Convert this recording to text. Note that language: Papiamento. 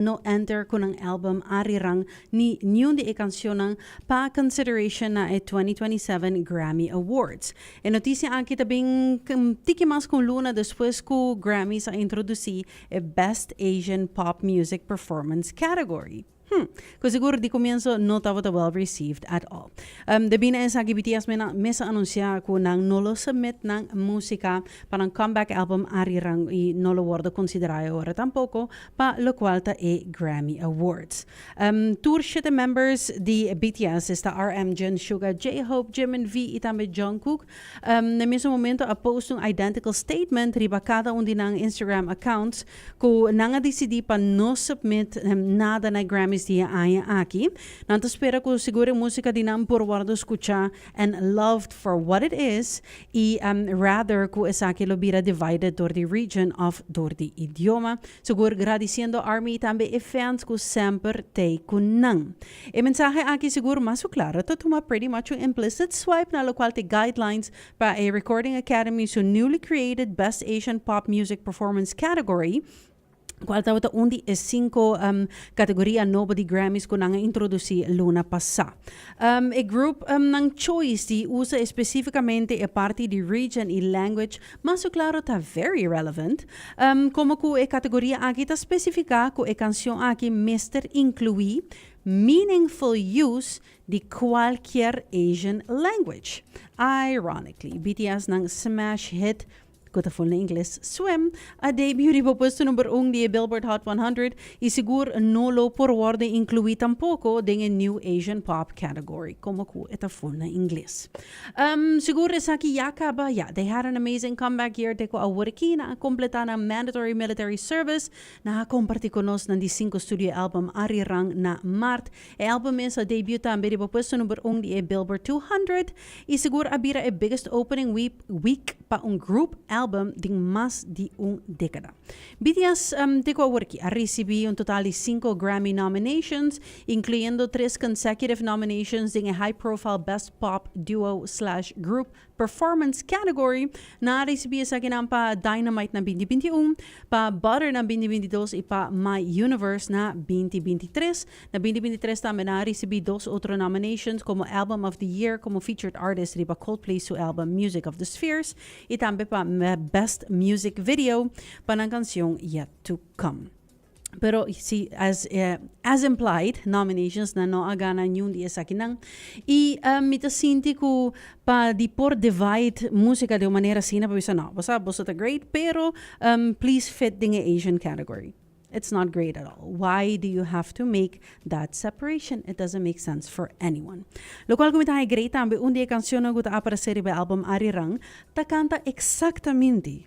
No Enter cu nan album Arirang ni niun di e cancionnan pa consideration na e twenty twenty seven Grammy Awards. E noticia aki ta bin un tiki mas cu un luna despues cu Grammys a introduci e Best Asian Pop Music Performance category. Hm, cu sigur di cumienso no tabata well received at all. Debí na esaki BTS menan mes a anuncia cu nan no lo submit nan musica pa nan comeback album Arirang y no lo wordo considera e ora tampoco pa locual ta e Grammy Awards. Tur shete members di BTS, esta RM, Jin, Suga, J-Hope, Jimin, V y tambe Jungkook, na e mesun momento a post un identical statement riba cada un di nan Instagram accounts cu nan a dicidi pa no submit nada na e Grammys di e aña aki. Nan ta spera cu sigur e musica di nan por wordo scucha and loved for what it is y um rather cu esaki lo bira divided door di region of door di idioma. Sigur gradiciendo Army tambe e fans cu semper tey cu nan. E mensahe aki sigur mas cu claro ta tuma pretty much un implicit swipe na locual te guidelines pa e Recording Academy su newly created Best Asian Pop Music Performance category, cual tabata un di e cinco categoria nobo di Grammys cu nan a introduci luna pasa. e group nan choice di usa especificamente e parti di region y language mas su claro ta very relevant. como cu e categoria aki ta specifica cu e cancion aki mester inclui meaningful use di cualkier Asian language. Ironically, BTS nan smash hit ku ta ful na ingles Swim, a debiu riba puesto number un di e Billboard Hot 100 i sigur no lo por wòrdu inkluí tampoko den e New Asian Pop category komo ku e ta ful na ingles. Ehm, sigur esaki ya kaba? Ya, they had an amazing comeback year te ku awor ki nan a kompletá nan mandatory military service, nan a kompartí ku nos nan di sinku studio album Arirang na Mart E album mes a debut tambe riba puesto number un di e Billboard Two Hundred y segur a bira e biggest opening week pa un group album den mas di un decada. BTS te cu awor aki a ricibi un total di cinco Grammy nominations, incluyendo tres consecutive nominations den e high-profile Best Pop Duo Slash Group Performance Category nan a risibi esakinan pa Dynamite na binti binti un, pa Butter na binti binti dos i pa My Universe na binti binti tres. Na binti binti tres tambe nan a risibi dos otro nominations komo Album of the Year komo Featured Artist riba Coldplay su album Music of the Spheres i tambe pa Best Music Video pa nan kansion Yet to Come. Pero si as implied nominations nan no a gana niun di esakinan. Y mi ta sinti cu pa di por divide musica den un manera asina pa bisa no bo sa boso ta great pero please fit den e Asian category. It's not great at all. Why do you have to make that separation? It doesn't make sense for anyone. Locual cu mi ta haña great tambe un di e cancionnan cu ta aparece riba e album Arirang ta canta exactaminti.